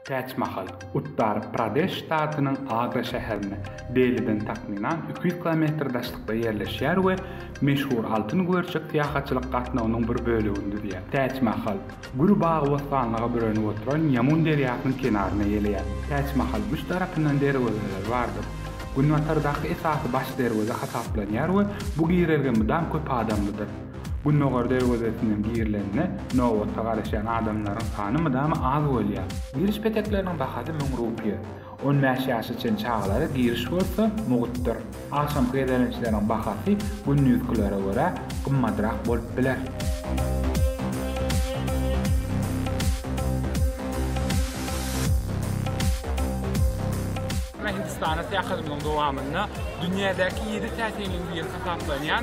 Käç mahal, Uttar Pradeş ştatynyň Agra şäherinde, Deliden takmynan iki ýüz kilometr daşlykda ýerleşýär we meşhur altyn güberçek syýahatçylyk gatnawynyň bir bölegini düzýär. Täç Mahal, gür bagy-bossanlyga bürenip oturan Ýamun derýasynyň kenarynda ýeleýär. Täç Mahal üç tarapyndan derwezeleri bardyr. Günbatardaky esasy baş derweze hasaplanýar we bu girelge mydam köp adamlydyr. Gündogar derwezesinden girilende nobata garaşýan adamlaryň sany mydama az bolýar. Giriş petekleriniň bahasy müň rupiýa. On bäş ýaşa çen çagalara giriş bolsa mugtdyr. Agşamky gezelençleriň bahasy gündizkilere görä gymmadrak bolup biler. Hindistana syýahatymyzyň dowamynda dünýädäki ýedi täsinligiň biri hasaplanýan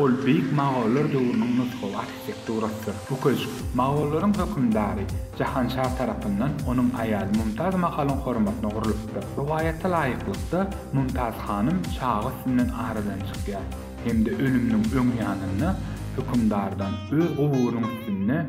Ol beýik mogollar döwrüniň nusgawy arhitekturasydyr. Bu köşk, mogollaryň hökümdary Jahanşa tarapyndan onuň aýaly Mumtaz Mahalyň hormatyna gurlupdyr. Rowaýata laýyklykda, Mumtaz hanym çaga üstünden aradan çykýar hem-de ölüminiň öň ýanynda hökümdardan öz guburynyň üstünde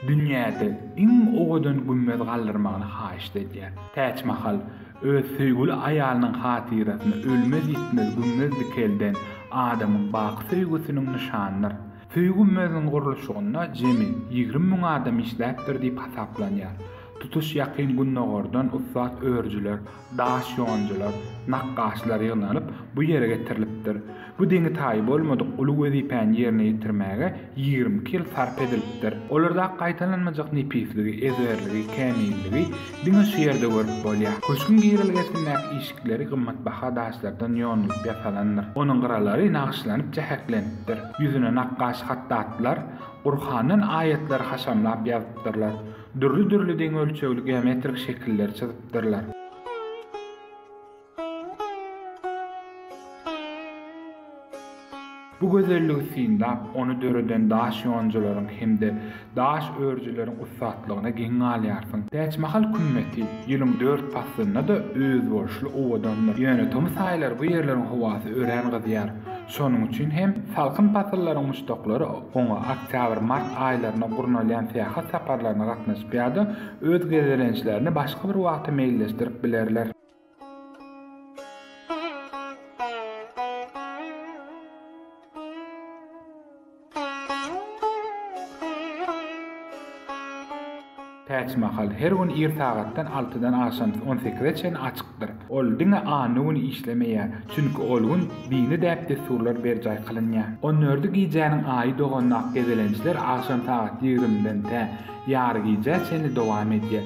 dünýäde iň owadan gümmez galdyrmagyny haýyşt edýär. Täçmahal, Öz söýgüli aýalynyň hatyrasyna ölmez-ýitmez gümmez dikelden adamyň baky söýgüsiniň nyşanydyr. Söýgi gümmeziniň gurluşygynda jemi ýigrimi müň adam işläpdir diýip hasaplanýar. Tutuş Ýakyn Gündogardan ussat örüjiler, daş ýonjular, nakgaşlar ýygnanyp, bu ýere getirilipdir. Bu deňi-taýy bolmadyk uly wezipäni ýerine ýetirmäge ýigrimi iki ýyl sarp edilipdir. Olardaky gaýtalanmajak nepisligi, ezberligi, kämilligi diňe şu ýerde görüp bolýar. Köşgüň girelgesindäki işikleri gymmatbaha daşlardan ýonulyp ýasalandyr. Onuň gyralary nagyşlanyp jäheklenipdir. Ýüzüne nakgaş hatdatlar Gurhandan aýatlary haşamlap ýazypdyrlar. Dürli-dürli deň ölçegli geometrik şekilleri çyzypdyrlar. Bu gözelligi synlap, ony döreden daş ýonujylaryň hem-de daş örüjileriň ussatlygyna geň galýarsyň. Täçmahal kümmeti ýylyň dört paslynda-da özboluşly owadandyr. Ýöne tomus aýlary bu ýerleriň howasy örän gyzýar. Şonuň üçin hem salkyn pasyllaryň muşdaklary oňa oktýabr-mart aýlarynda gurnalýan syýahat saparlaryna gatnaşyp ýa-da öz gezelençlerini başga bir wagta meýilleşdirip bilerler. Täçmahal her gün ir sagatdan altydan agşam on sekize çenli açykdyr. Ol diňe anna güni işlemeýär, çünki ol gün dini däp-dessurlar berjaý kylynýar. On dördi gijäniň aýy dogandak gezelençler agşam sagat ýigrimiden tä ýarygijä çenli dowam edýär.